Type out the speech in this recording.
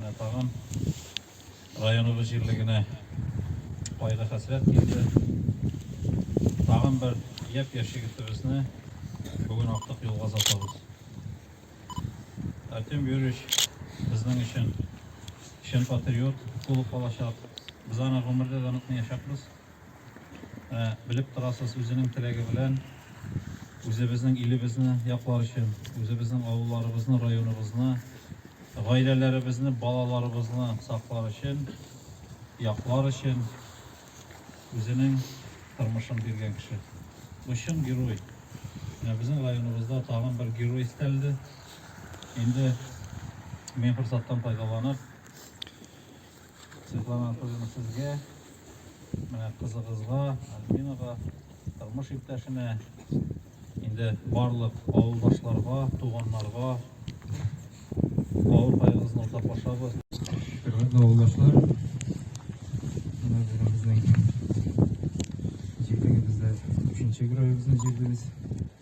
Тагын районыбыз җирлегенә кайгы хәсрәт килде. Тагын бер япь-яшь егетебезне бүген актык юлга озатабыз. Артем Юрьевич безнең өчен чын патриот булып калачак. Без аны гомердә дә онытмаячакбыз. Ә белеп торасыз, үзенең теләге белән үзебезнең илебезне яклар өчен, үзебезнең авылларыбызны, районыбызны, гаиләләребезне, балаларыбызны саклар өчен, яклар өчен үзенең тормышын биргән кеше. Бу чын герой. Менә безнең районыбызда тагын бер герой истәлде. Инде мин форсаттан файдаланып, Светлана Анатольевна, сезгә, менә кызыгызга, Альбинага, тормыш иптәшенә, инде барлык авылдашларга, туганнарга авыр кайгыгызны уртаклашабыз. Хөрмәтле авылдашлар, менә бүген безнең җирлегебездә өченче героебызны җирдебез.